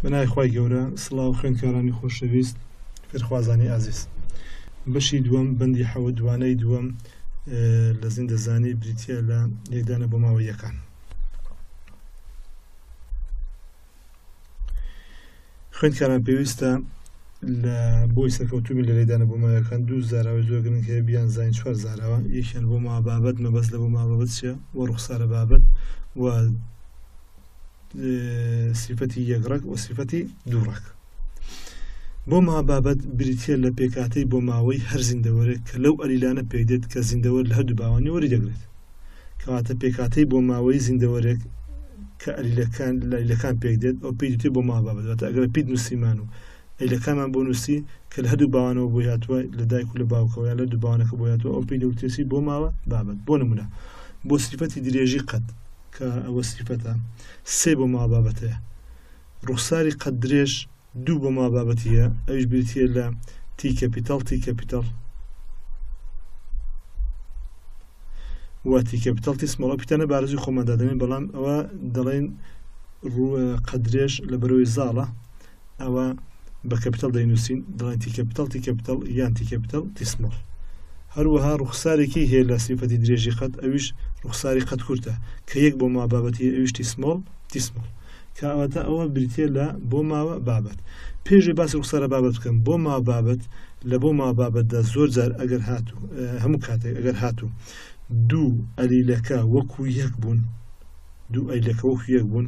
بەناوی خوای گەورە سڵاو خوێندکارانی خۆشەویست فێرخوازانی ئازیز بەشی دووەم بەندی حەوە دوانەی دووەم لە زیندەزانی بریتە لە لێدانە بۆ ماوە یەکان خوێندکاران پێویستە لە بۆی سەرکەوتوبی لە لێدانە بۆ ماوەکان دوو زاراوە زۆرگرنگ هەیە بیان زین چوار زاراوە یەکیان بۆ ما بابەت مەبەست لە بۆ ما بابەت چە وە ڕوخسارە بابەت و سیفەتی یەکڕەک و سیفەتی دووڕەک بۆ ما بابەت بریتە لە پێکاتەی بۆ ماوەی هەر زیندەوەرێک کە لەو ئەلیلانە پێدێت کە زیندەوەر لە هەردوو باوانی وەری دەگرێت کەواتە پێکاتەی بۆ ماوەی زیندەوەرێک کە ئەلیلەکان لەلەکان پێک دێت ئەو پێی دێت بۆ ما بابەت ئەگەر پیت نووسیمان و ئەلەکانمان بۆ نووسی کە لە هەردوو باوانەوە بۆ هاتووە لە دایک و لە باوکەوە لە دووبانەکە بۆ هاتووە ئەو پێی دەوتێسی بۆ ماوە بابەت بۆ نمونە بۆ سیفەتی درێژی قەت کە ئەوە سیفەتە سێ بۆ ماوە بابەتەیە. ڕوخساری قەد درێژ دوو بۆ ماوە بابەتی هەیە، ئەویش بریتییە لە تی کەپیتاڵ تی کەپیتاڵ و تی کەپیتاڵ تی سماڵ ئەو پیتانە بارزی خۆمان دادەنێن بەڵام ئەوە دەڵێن قەدرێش لە بەرەوەی زاڵە ئەوە بە کەپیتەڵ دەینووسین دەڵێن تی کەپیتەڵ تی کەپیتەڵ یان تی کەپیتەڵ تیسمۆڵ هەروەها ڕوخسارێکی هەیە لە سیفەتی درێژی قەت ئەویش ڕوخساری قەت کورتە کە یەک بۆ ما بابەتی ئەویشتی سمۆڵ تیسمۆڵ کاواتە ئەوە بریتە لە بۆ ماوە بابەت پێشێ باسی ڕوخسارە بابەت بکەم بۆ ما بابەت لە بۆ ما بابەتدا زۆر جار ئەگەر هاتوو هەموو کاتێک ئەگەر هاتوو دوو ئەلیلەکە وەکو یەک بوون دوو ئەیلەکە وەکو یەک بوون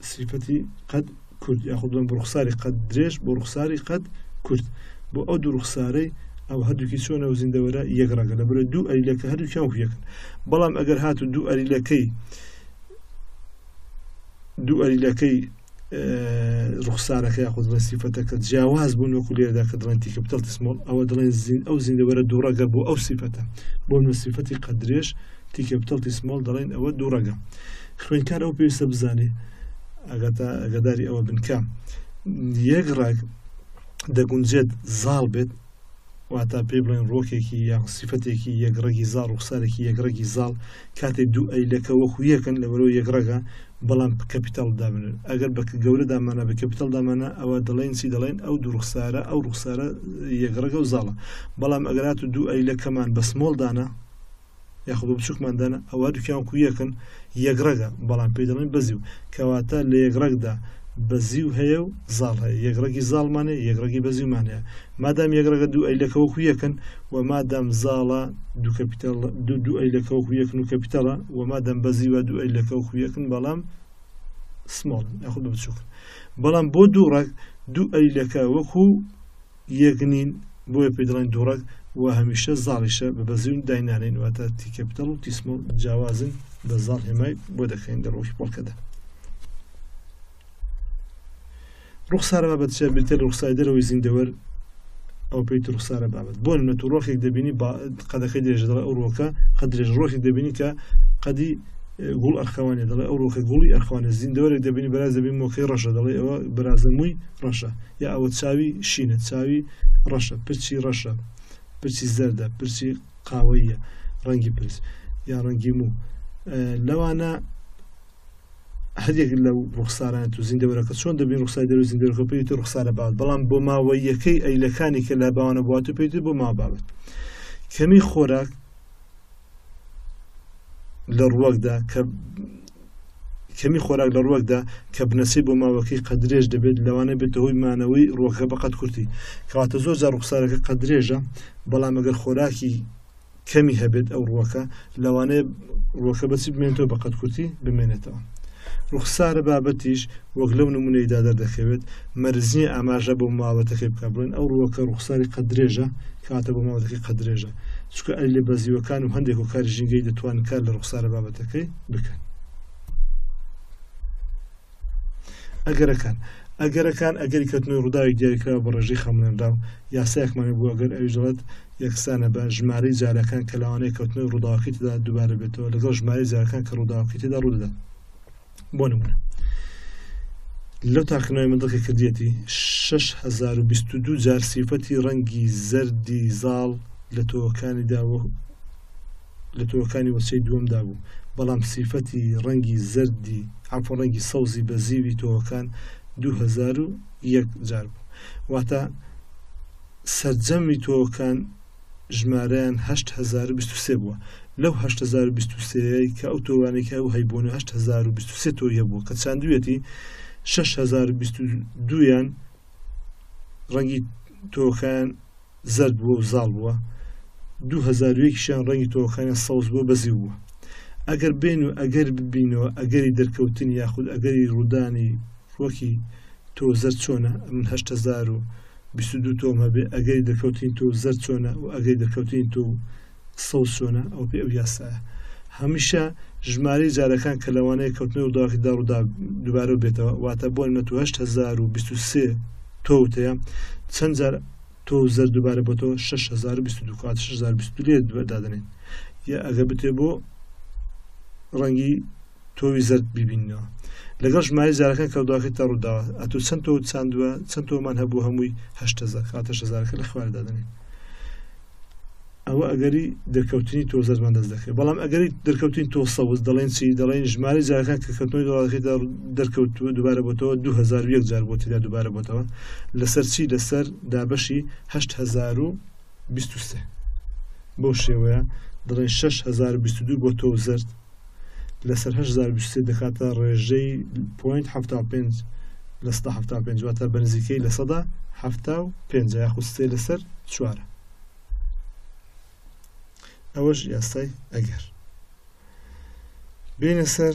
سیفەتی قەد کورت یاخود بڵێم بۆ ڕوخساری قەد درێژ بۆ ڕوخساری قەد کورت بۆ ئەو دوو ڕوخسارەی ئەو هەردووکی چۆنە و زیندەوەرە یەک ڕەگە لە بەرە دوو ئەریلەکە هەردووکیان وەکویەکن بەڵام ئەگەر هات و دوو ئەریلەکەی دوو ئەریلەکەی ڕوخسارەکە یاخود بڵێ سیفەتەکە جیاواز بوون وەکو لێردا کە دڵێن تیکە بتەڵ تسمۆڵ ئەوە دڵێن زین ئەو زیندەوەرە دووڕەگە بۆ ئەو سیفەتە بۆ نوسیفەتی قەدرێش تیکە بتەڵ تسمۆڵ دەڵێن ئەوە دووڕەگە خوێندکار ئەوە پێویستە بزانێ ئەگەتا ئەگەداری ئەوە بن کە یەک ڕاک دەگونجێت زاڵ بێت واتا پێ بڵێن ڕۆکێکی یاخ سیفەتێکی یەکڕێکی زاڵ ڕوخسارێکی یەکڕێکی زاڵ کاتێک دوو ئەیلەکە وەکو یەکەن لە بەرەوە یەکڕەگە بەڵام کەپیتال دابن ئەگەر بە گەورە دامانە بە کەپیتال دامانە ئەوە دەڵێن چی دەڵێن ئەو دوڕخسارە ئەو ڕوخسارە یەکڕەگە و زاڵە بەڵام ئەگەرات و دوو ئەیلەکەمان بە سمۆڵدانە یاخۆ بە بچووکمان دانا ئەوە دوکیان کو یەکن یەک ڕەگە بەڵام پێی دەڵێن بەزی و کەواتە لە یەک ڕەگدا بەزی و هەیە و زاڵ هەیە یەکڕگی زاڵمانێ یەکڕگی بەزیمان هەیە مادام یەکڕگە دوو ئەیلەکەوەکو یەکن و مادام زاڵە دوو کەپیتال دوو دوو ئەیلەکەوەکو یەکن و کەپیتەڵە و مادەم بەزی وە دوو ئەیلەکەوەکو یەکن بەڵام سمۆڵ یاخود بچووکن بەڵام بۆ دوو ڕەگ دوو ئەیلەکە وەکو یەک نین بۆیە پێی دەڵێن دووڕەگ و هەمیشە زاڵیشە بە بەزیون داینانێن واتە تیکە بدەڵ و تیسمڵ جیاوازن بە زاڵ هێمای بۆ دەکەین لە ڕۆژی پۆڵکەدا ڕوخسارە بابەتە بریتە لە ڕوخسای دەرەوەی زیندەوەر ئەو پێیت ڕوخسارە بابەت بۆ نە تو ڕۆخێک دەبینی قەدەکەی درێژە دەڵێ ئەو ڕۆکە قە درێژ ڕۆژێک دەبینی کە قەدی گوڵ ئەرخەوانێ دەڵێ ئەو ڕۆکە گوڵی ئەرخوانە زیندەوەرێک دەبینی بەراز دەبین مۆکەی ڕەشە دەڵێ ئەوە برازەمووی ڕەشە یا ئەوە چاوی شینە، چاوی ڕەشە، پرچی ڕەشە، پرچی زەردە، پرچی قاوەییە، ڕەنگی پرچ یا ڕەنگی موو لەوانە هەرێک لەو ڕوخساران تو زیندەوەرەکە چۆن دەبین ڕوخسای دەرو زیندەوەەکە پێیت و ڕوخسارە بات بەڵام بۆ ماوەیەکەی ئەیلەکانی کە لە باوانە بوات و پێیت بۆ ما بابێت کەمی خۆراک لە ڕوەکدا کە کەمی خۆراک لە ڕوەکدا کە بنەسەی بۆ ماوەکەی قەدرێژ دەبێت لەوانە بێتە هۆی مانەوەی ڕوەکە بەقەت کورتی کەواتە زۆر جار ڕوخسارەکە قەدرێژە بەڵام ئەگەر خۆراکی کەمی هەبێت ئەو ڕوەکە لەوانەیە ڕۆکە بەچی بمێنێتەوە بە قەت کورتی بمێنێتەوە ڕوخسارە بابەتیش وەک لەو نمونەیدا دەردەکەوێت مەرزیە ئاماژە بۆ ماوەتەکەی بک بڵێن ئەو ڕووەکە ڕوخساری قە درێژە کاتە بۆ ماوەتەکەی قە درێژە چکە ئەلی بەزیوەکان و هەندێک و کاری ژینگەی دەتوان کار لە ڕوخسارە بابەتەکەی بکەن ئەگەرەکان ئەگەرەکان ئەگەری کەتنەوەی ڕووداوی دیاریکراوە بە ڕێژەی خەمڵێنرا و یاسایەکمانە بوو ئەگەر ئەویژڵەت یەکسانە بە ژمارەی جارەکان کە لەوانەیە کەوتنەوەی ڕووداوەکەی تدا دووبارە بێتەوە لەگەڵ ژمارەی جارەکان کە ڕووداوەکەی تدا ڕوودەدات بۆ نمونە لەو تاقنەوەی من دڵکە کردیەتی 6022 جار سیفەتی ڕەنگی زەردی زاڵ لە تۆکانیدا لە تۆوەکانی وەچەی دووەمدا بوو، بەڵام سیفەتی ڕەنگی زەردی عەفوەن ڕەنگی سەوزی بەزیوی تۆوەکان دوو هەزار و یەک جار بوو. واتە سەرجەمی تۆوەکان ژمارەیان هەشت هەزار و بیست و سێ بووە. لەو هەشت هەزار و بیست و سێیەی کە ئەو تۆوانەی کە ئەو هەیبوونە هەشت هەزار و بیست و سێ تۆوی هەبووە کە چاندوویەتی شەش هەزار و بیست و دوویان ڕەنگی تۆوەکان زەرد بووە و زاڵ بووە دوو هەزار و یەکیشیان ڕەنگی تۆوەکانیان سەوز بووە بەزیو بووە ئەگەر بێن و ئەگەر ببینەوە ئەگەری دەرکەوتنی یاخود ئەگەری ڕوودانی وەکی تۆ زەرد چۆنە من هەشت هەزار و بیست و دوو تۆم هەبێ ئەگەری دەرکەوتنی تۆ زەرد چۆنە و ئەگەری دەرکەوتنی تۆ قسەو چۆنە ئەوە پێی ئەو یاسایە هەمیشە ژماری جارەکان کە لەوانەیە کەوتنی ڕووداوکی داڕوودا دوبارە بێتەوە واتە بۆ نمە 1923 تۆوتەیە چەند جار تۆ زەر دوبارە بۆ تۆ 1922 دادنێن یا ئەگە بتێ بۆ ڕەنگی تۆوی زرد ببینەوە لەگەڵ ژماری جارەکان کە دواکە تا ڕووداوە ئەتو چەند تۆ چاندووە چەند تۆمان هەبوو هەمووی هەشتەزار کاتە شەزارەکە لە خواردا دەنێن ئەوە ئەگەری دەرکەوتنی تۆ زەرمان دەست دەکەێت بەڵام ئەگەری دەرکەوتین تۆ سەوز دەڵێن چی دەڵێن ژماری جارەکان کە کەوتنەوەی دەڵاتەکەی دەرکەوتووە دووبارە بۆتەوە 2001 جار بۆ تێدا دووبارە بۆتەوە لەسەر چی لەسەر دابەشی 1920 بەو شێوەیە دڵێن 6 بۆ تۆ زرد لەسەر هەشت هەزار و بیست و سێ دەکاتە ڕێژەی پۆینت حەفتا و پێنج لە سەدا حەفتا و پێنج واتە بەنزیکەی لە سەدا حەفتا و پێنج یاخود سێ لەسەر چوارە ئەوەش یاسای ئەگەر بینە سەر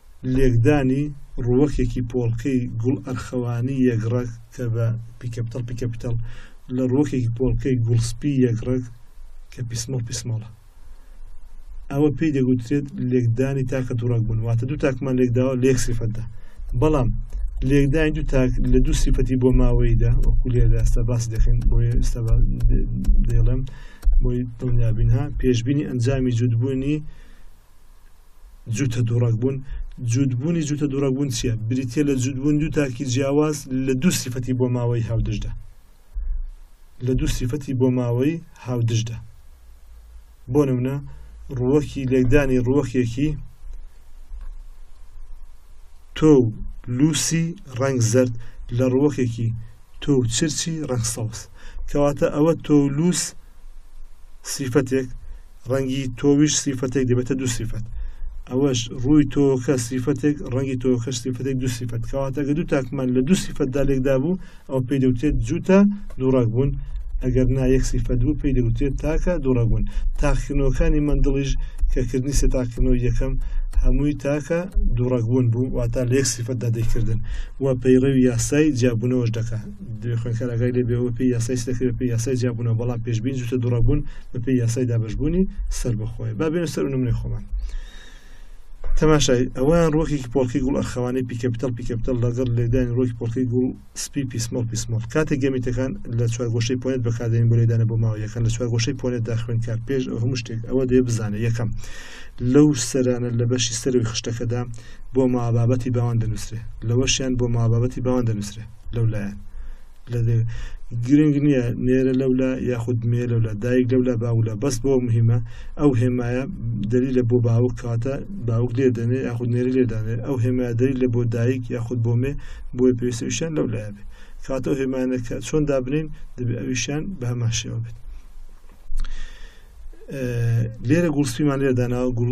لێکدانی ڕووەکێکی پۆڵکەی گوڵ ئەرخەوانی یەک ڕەگ کە بە، Picaptal Picapital، لە ڕووەکێکی پۆڵکەی گوڵ سپی یەک ڕەگ کە، Pismal Pismala، ئەوە پێی دەگوترێت لێکدانی تاکە دوو ڕەگ بوون واتە دوو تاکمان لێکداوە لە یەک سیفەتدا بەڵام لێکدانی دوو تاک لە دوو سیفەتی بۆ ماوەیدا وەکو لێدا ئێستا باس دەکەین بۆ ئێستا دەڵێم بۆی دڵنیابینها پێشببینی ئەنجامی جوودبوونی جووتە دووڕەگبوون جووتبوونی جووتە دووڕەگبوون چییە بریتە لە جووتبوون دوو تاکی جیاواز لە دوو سیفەتی بۆ ماوەی هاودژدا لە دوو سیفەتی بۆ ماوەی هاودژدا بۆ نمونە ڕووەکی لێکدانی ڕووەکێکی تۆ لوسی ڕنگ زرد لە ڕووەکێکی تۆ چرچی ڕنگ سەوز کەواتە ئەوە تۆ لوس سیفەتێک ڕەنگی تۆویش سیفەتێک دەبێتە دوو سیفەت ئەوەش ڕووی تۆکە سیفەتێک ڕەنگی تۆکە سیفەتێک دوو سیفەت کەواتەگە دوو تاکمان لە دوو سیفەتدا لێکدا بوو ئەو پێی دەوتێت جووتە دووڕاک بوون ئەگەر نا یەک سیفەت بوو پێی دەوتێت تاکە دووڕاک بوون تاقیکردنەوەکانی مندڵیش کەکردنی سێ تاقیکردنەوە یەکەم هەمووی تاکە دووڕەگبوون بوو واتا لە یەک سیفەتدا دەیکردن و پەیڕەوی یاسای جیابوونەوەش دەکات دوێ خوێنکار ئاگای لێبێ بە پێی یاسای سلەکرێ بە پێی یاسای جیابوونەوە بەڵام پێشبین جوتە دوڕەبوون بە پێی یاسای دابشبوونی سەر بەخۆی با بێنە سەر نمرەی خۆمان تەماشای ئەویان ڕۆکێکی پۆڵکی گوڵ ئەرخەوانی پیکەپتەڵ پیکەپتەڵ لەگەڵ لێدان ڕۆکی پۆڵکی گوڵ سپی پیسمەڵ پیسمەڵ کاتێک گەمیتەکان لە چوارگۆشەی پۆنێت بەکاردێن بۆ لێدانە بۆ ماوە یەکەن لە چوارگۆشەی پۆنێت داخوێن کار پێش ئەو هەموو شتێک ئەوە دێ بزانە یەکەم لەو سەرانە لە بەشی سەرەوەی خشتەکەدا بۆ مابابەتی باوان دەنووسێ لەوەشیان بۆ مابابەتی باوان دەنووسێ لەولایە لە گرنگ نییە نێرە لەولا یاخود مێ لەولا دایک لەولا باولا بەس بۆ مهمە ئەو هێمایە دەری لە بۆ باوک کاتە باوک لێ دەنێ یاخود نێری لێدانێت ئەو هێمایە دەری لە بۆ دایک یاخود بۆ مێ بۆی پێویستویشان لەو لایە بێت کاتە هێمانەکە چۆن دابنین دەبێ ئەویشان بە هەمان شێوە بێت لێرە گوڵسپیمان لێ داناوە گوڵ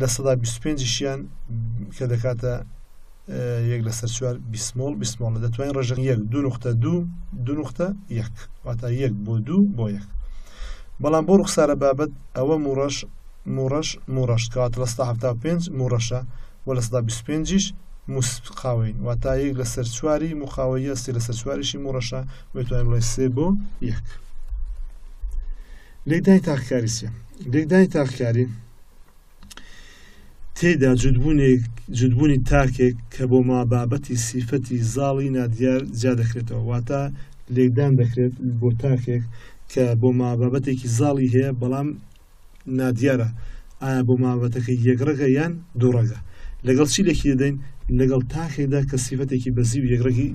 لە سەدا بیست و پێنجیشیان کە دەکاتە یەک لەسەر چوار بیسمۆڵ بیسمۆڵ لە دەتوانین ڕژن یەک دوو نقطە دوو دوو نقطە یەک واتا یەک بۆ دوو بۆ یەک بەڵام بۆ ڕوخسارە بابەت ئەوە موڕەش موڕەش موڕەش کات لە ستا هەفتا پێنج موڕەشە و لە ستا بیست پێنجیش موسقاوین واتا یەک لەسەر چواری مقاوەیە سێ لەسەر چواریشی موڕەشە وێتوانین بڵێ سێ بۆ یەک لێکدانی تاکەکاری سێ لێکدانی تاکەکاری تێدا جودبوونێک جودبوونی تاکێک کە بۆ ما بابەتی سیفەتی زاڵی نادیار جیا دەکرێتەوە واتە لێکدان دەکرێت بۆ تاکێک کە بۆ ما بابەتێکی زاڵی هەیە بەڵام نادیارە ئایا بۆ مابەتەکە یەکڕگە یان دوڕگە لەگەڵ چی لەکی دەدەین لەگەڵ تاکێکدا کە سیفەتێکی بەزی و یەکڕگی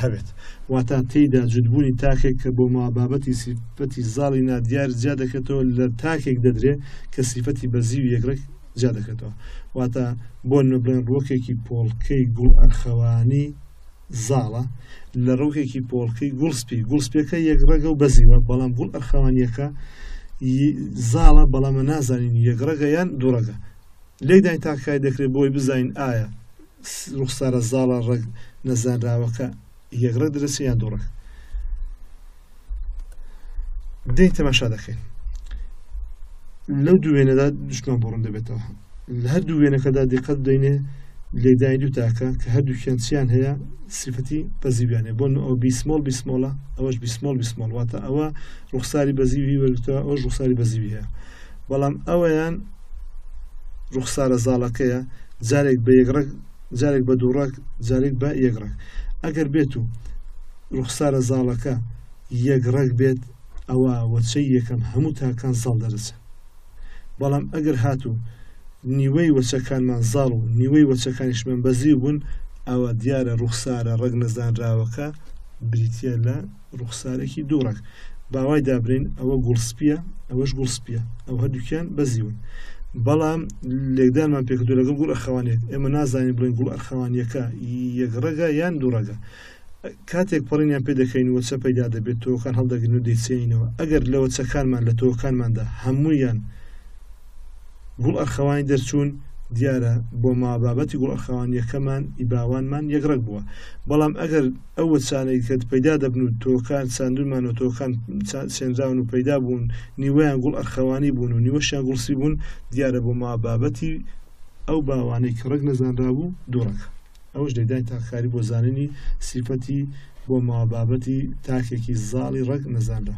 هەبێت، واتا تێیدا جوتبوونی تاکێک کە بۆ ماوە بابەتی سیفەتی زاڵی نادیار جیا دەکرێتەوە لە تاکێک دەدرێ کە سیفەتی بەزیی و یەکرەگ جیا دەکرێتەوە، واتا بۆ نمە بڵێن ڕووەکێکی پۆڵکەی گوڵ ئەرخەوانی زاڵە لە ڕووەکێکی پۆڵکەی گوڵ سپی، گوڵ سپیەکە یەکڕەگە و بەزیوە بەڵام گوڵ ئەرخەوانیەکە زاڵە بەڵامە نازانین یەکڕەگە یان دووڕەگە لێکدانی تاکەکانی دەکرێت بۆی بزانین ئایا ڕوخسارە زاڵە ڕەگ نەزانراوەکە یەک ڕەگ دەرەچێ یان دوو ڕەگ دێین تەماشا دەکەین لەو دوێنەدا دشمان بڕون دەبێتەوە لە هەر دوو وێنەکەدا دیقەت دەینێ لێدای دوو تاکە کە هەردوو کێنچیان هەیە سیفەتی بەزیویانێ بۆن ئەو بیسمۆڵ بیسمۆڵە ئەوەش بیسمۆڵ بیسمۆڵ واتە ئەوە ڕوخساری بەزیوی وەرگتەوە ئەوش ڕوخساری بەزیویە بەڵام ئەویان ڕوخسارە زاڵەکەیە جارێک بە یەک ڕەگ جارێک بە دوو ڕەگ جارێک بە یەک ڕەگ ئەگەر بێت و ڕوخسارە زاڵەکە یەک ڕەگ بێت ئەوە وەچەی یەکەم هەموو تاکان زاڵ دەرەچن بەڵام ئەگەر هاتوو نیوەی وەچەکانمان زاڵ و نیوەی وەچەکانیشمان بەزیو بوون ئەوە دیارە ڕوخسارە ڕەگ نەزانراوەکە بریتە لە ڕوخسارێکی دوو ڕەگ باوای دابرین ئەوە گوڵ سپیە ئەوەش گوڵ سپیە ئەو هەردووکیان بەزیون بەڵام لێکدانمان پێکردو لەگەڵ گوڵ ئەخەوانێت ئێمە نازانین بڵێن گوڵ ئەرخەوانیەکە یەک ڕەگە یان دوو ڕەگە کاتێک پەڕینیان پێ دەکەین و چە پەیدا دەبێت تۆکان هەڵدەگرن و دەیچێنینەوە ئەگەر لەوە چەکانمان لە تۆکانماندا هەموویان گوڵ ئەرخەوانی دەرچوون دیارە بۆ ما بابەتی گوڵ ئەرخەوانیەکەمان ئیباوانمان یەک ڕەگ بووە بەڵام ئەگەر ئەو وەچانەی کە پەیدا دەبن و تۆکان چاندومان و تۆکان سێنراون و پەیدا بوون نیوەیان گوڵ ئەرخەوانی بوون و نیوەشیان گوڵسی بوون دیارە بۆ ما بابەتی ئەو باوانەی کە ڕەگ نەزانرا بوو دووڕەکە ئەوش دەدای تاکاری بۆ زانینی سیفەتی بۆ ماوە بابەتی تاکێکی زاڵی ڕەگ نەزانرا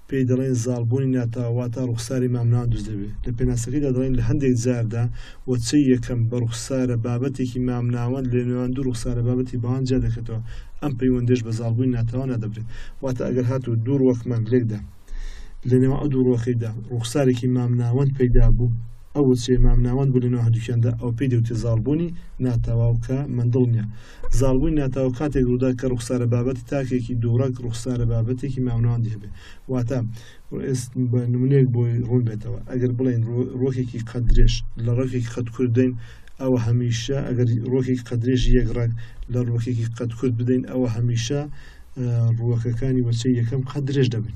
پێی دەڵێن زاڵ بوونی ناتاو واتا ڕوخساری مامناوەند دروست دەبێ لە پێناسەکەیدا دەڵێن لە هەندێک جاردا وەچەی یەکەم بە ڕوخسارە بابەتێکی مامناوەند لە نێوان دوو ڕوخسارە بابەتی باوان جیا دەکەتەوە ئەم پەیوەندێش بە زاڵ بوونی ناتاوە نادەبرێ واتا ئەگەر هاتوو دوو ڕوەکمان لێکدا لە نێوان ئەو دوو ڕوەکەیدا ڕوخسارێکی مامناوەند پەیدا بوو ئەو وەچەی مامناوەند بوو لە نێوان هەردووکیاندا ئەو پێی دەوترێ زاڵ بوونی ناتاواو کە مندڵ نیە زاڵبوونی ناتاو کاتێک ڕوودا کە ڕوخسارە بابەتی تاکێکی دووڕەگ ڕوخسارە بابەتێکی مامناوەند هەبێ واتە بە نمونێک بۆی ڕوون بێتەوە ئەگەر بڵین ڕۆکێکی قەدرێش لە ڕۆکێکی قەت کوردین ئەوە هەمیشە ئەگەر ڕۆکێکی قەدرێژ یەک ڕەگ لە ڕۆکێکی قەت کورد بدەین ئەوە هەمیشە ڕووەکەکانی وەچەی یەکەم قەدرێش دەبن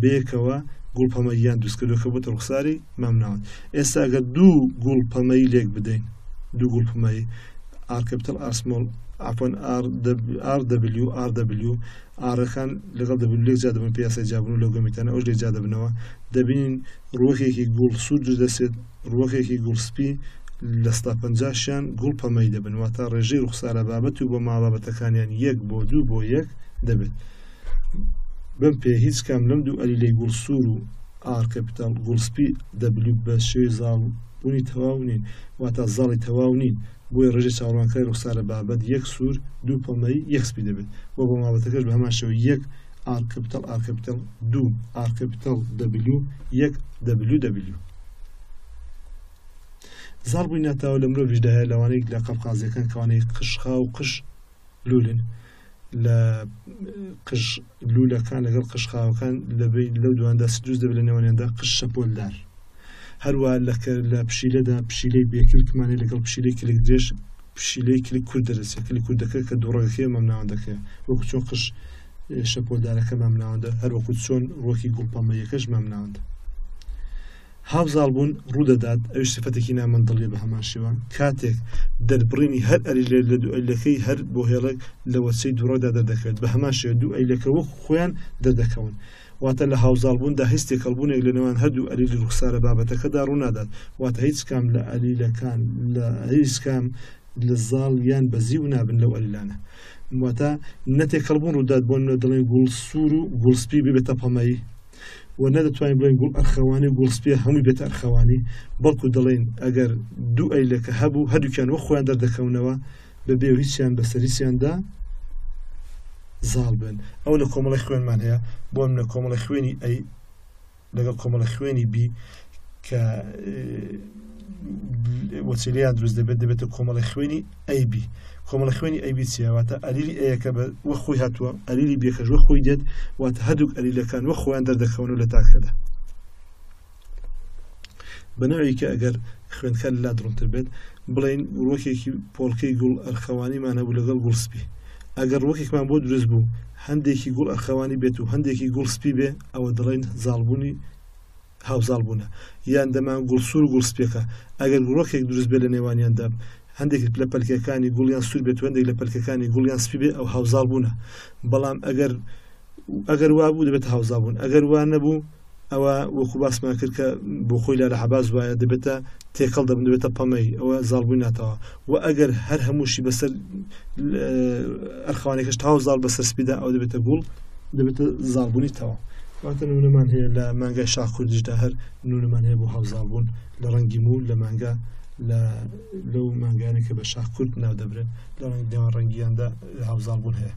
بەیەکەوە گوڵ پەمەییان دروست کردو کە بۆتە ڕوخساری مامناوەند ئێستا ئەگەر دوو گوڵ پەمەیی لێک بدەین دوو گوڵ پەمەیی ئارکپتل ئاسمۆڵ ئاپۆن RW RW ئارەکان لەگەڵ دەبن لێک جا دەبن پیاسای جابن و لەو گەمیتانە ئەوش لێک جا دەبنەوە دەبینین ڕوەکێکی گوڵ سوور دروست دەسێت ڕوەکێکی گوڵ سپی لە ستا پنجاشیان گوڵ پەمەی دەبن واتە ڕێژەی ڕوخسارە بابەت و بۆ ماوە بابەتەکانیان یەک بۆ دوو بۆ یەک دەبێت بم پێ هیچ کام لەم دوو ئەلیلەی گوڵ سوور و ئاڕ کەپیتاڵ گوڵ سپی دەبلیو بە شێوەی زاڵ بوونی تەواو نین واتا زاڵی تەواو نین بۆیە ڕێژەی چاوەڕوانکاری ڕوخسارە بابەت یەک سوور دوو پەمەیی یەک سپی دەبێت و بۆ مابەتەکەش بە هەمان شێوە یەک ئاڕ کەپیتاڵ ئاڕ کەپیتاڵ دوو ئاڕ کەپیتاڵ دەبلیو یەک دەبلیو دەبلیو زاڵ بووی ناتاوە لە مرۆڤیشدا هەیە لەوانەیەک لە قەبقازیەکان کەوانەی قشخا و قش لولن لە قژ لوولەکان لەگەڵ قژ خاوەکان لەبەی لەو دواندا سدوز دەبێت لە نێوانیاندا قژ شەپۆلدار هەروە لەکە لە پشیلەدا پشیلەی بێکلکمانی لەگەڵ پشیلەی کلک درێژ پشیلەی کلک کورد دەرەسێ کلی کوردەکە کە دوڕەکەکەی مام ناوەندەکەی وەکو چۆن قژ شەپۆلدارەکە مام ناوەندە هەروەکو چۆن ڕۆکی گوڵپەمەیەکەش مام ناوەندە هاوزاڵبوون ڕوودەدات، ئەویش سیفەتێکی نامەندڵیە بە هەمان شێوە کاتێک دەربڕینی هەر ئەلیلێک لە دوو ئەلیلەکەی هەر بۆ هێڵێک لە وەچەی دووڕەدا دەردەکەوێت بە هەمان شێوە دوو ئەیلەکە وەک خۆیان دەردەکەون واتە لە هاوزاڵبووندا هیچ تێکەڵبوونێک لە نێوان هەردوو ئەلیلی ڕوخسارە بابەتەکەدا ڕوونادات واتە هیچ کام لە ئەلیلەکان لە هیچ کام لە زاڵ یان بەزی و نابن لەو ئەلیلانە واتە نەتێکەڵبوون ڕوودات بۆ نوێ دڵێن گوڵ سوور و گوڵسپی ببێتە پەمەیی و نەدەتوانین بڵێن گوڵ ئەرخەوانی و گوڵسپێ هەمووی بێت ئەرخەوانی بەڵکو دەڵێن ئەگەر دوو ئەیلەکە هەبوو هەردووکیان وە خۆیان دەردەکەونەوە بەبێ هیچیان بەسەریسیاندا زاڵ بن ئەو لە کۆمەڵی خوێنمان هەیە بۆ منە کۆمەڵی خوێنی ئەی لەگەڵ کۆمەڵە خوێنی بی کە وەچلیان دروست دەبێت دەبێتە کۆمەڵی خوێنی ئەی بی کۆمەڵە خوێنی ئەی بی چیە واتە ئەلیلی ئەیەکە بە وە خۆی هاتووە ئەلیلی بێکەش وە خۆی دێت واتە هەردووک ئەلیلەکان وە خۆیان دەردەکەون و لە تاکەدا بەناوی کە ئەگەر خوێندکە لا دڕنتر بێت بڵین ڕۆکێکی پۆڵکەی گوڵ ئەرخەوانیمان هەبوو لەگەڵ گوڵ سپی ئەگەر ڕۆکێکمان بۆ دروست بوو هەندێکی گوڵ ئەرخەوانی بێت و هەندێکی گوڵ سپی بێ ئەوە دڵین زاڵبوونی هاوزاڵ بوونە یان دەمان گوڵ سوور و گوڵ سپیەکە ئەگەر گوڵۆکێک دروست بێت لە نێوانیاندا هەندێکت لە پەلکەکانی گوڵیان سوور بێت هەندێک لە پەلکەکانی گوڵیان سپی بێ ئەو هاوزاڵ بوونە بەڵام ئەگەر ئەگەر وابوو دەبێت هاوزا بوون ئەگەر وان نەبوو ئەوە وەکو باسمان کرد کە بۆ خۆی لە لە حەباز وایە دەبێتە تێکەڵ دەبن دەبێتە پەمەی ئەوە زاڵبووی ناتەوە وە ئەگەر هەر هەمووشی بەسەر ئەرخوانێکش تاو زاڵ بەسەر سپیدا ئەو دەبێتە گوڵ دەبێتە زاڵبوونی تەوا واتە نونەمان هەیە لە مانگای شاخ کوردیشدا هەر نونەمان هەیە بۆ هاوزاڵبوون لە ڕەنگی مو لە مانگا لە لەو مانگانە کە بە شاخ کورد ناو دەبرێت لە ڕەنگ دێوان ڕەنگیاندا هاوزاڵبوون هەیە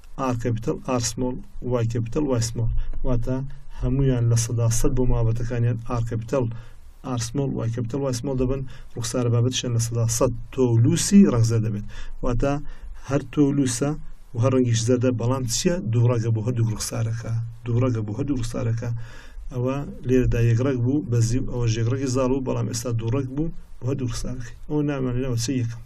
ئا کەپیتەڵ ئار سمۆڵ وای کەپیتەڵ وای سمۆڵ واتە هەمویان لە سەدا سەد بۆ مابەتەکانیان ئار کەپیتەڵ ئار سمۆڵ وای کەپیتەڵ وای سمۆڵ دەبن ڕوخسارە بابەتشیان لە سەدا سەد تۆ و لوسی ڕەنگزەر دەبێت واتە هەر تۆ و لوسە و هەر ڕەنگیش زەردە بەڵام چییە دوو ڕەگە بۆ هەردوو ڕوخسارەکە دوو ڕەگە بۆ هەردوو ڕوخسارەکە ئەوە لێرەدا یەکڕێک بوو بەزی و ئەوە ژێگڕێکی زاڵ بوو بەڵام ئێستا دووڕێک بوو بۆ هەردوو ڕوخسارەکەی ئەو نامانەوە چ یەکەم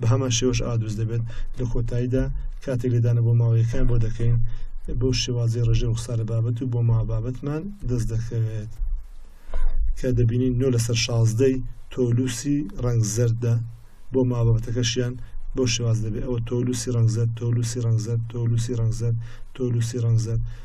بە هەمان شێوەش ئا دروست دەبێت لە کۆتاییدا کاتێک لێدانە بۆ ماوەیەکان بۆ دەکەین بەو شێوازی ڕژێ ڕوخسارە بابەت و بۆ ما بابەتمان دەست دەکەوێت کە دەبینین نۆ لەسەر شازدەی تۆلوسی ڕنگ زەردە بۆ ما بابەتەکەشیان بۆ شێواز دەبێت ئەوە تۆلوسی ڕنگ زەر تۆلوسی ڕنگ زەر تۆلوسی ڕنگ زەر تۆلوسی ڕنگ زەر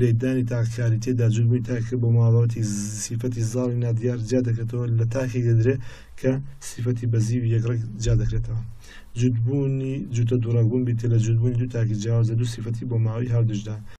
لێکدانی تاکەکاری تێدا جووتبووی تاکەکە بۆ ماڵەوەتی سیفەتی زاڵی نادیار جیا دەکرێتەوە لە تاکی دەدرێ کە سیفەتی بەزی و یەکڕێک جیا دەکرێتەوە جووتبوونی جووتە دووڕەگوون بیتە لە جووتبوونی دوو تاکی جیاوازە دوو سیفەتی بۆ ماوەی هاودژدا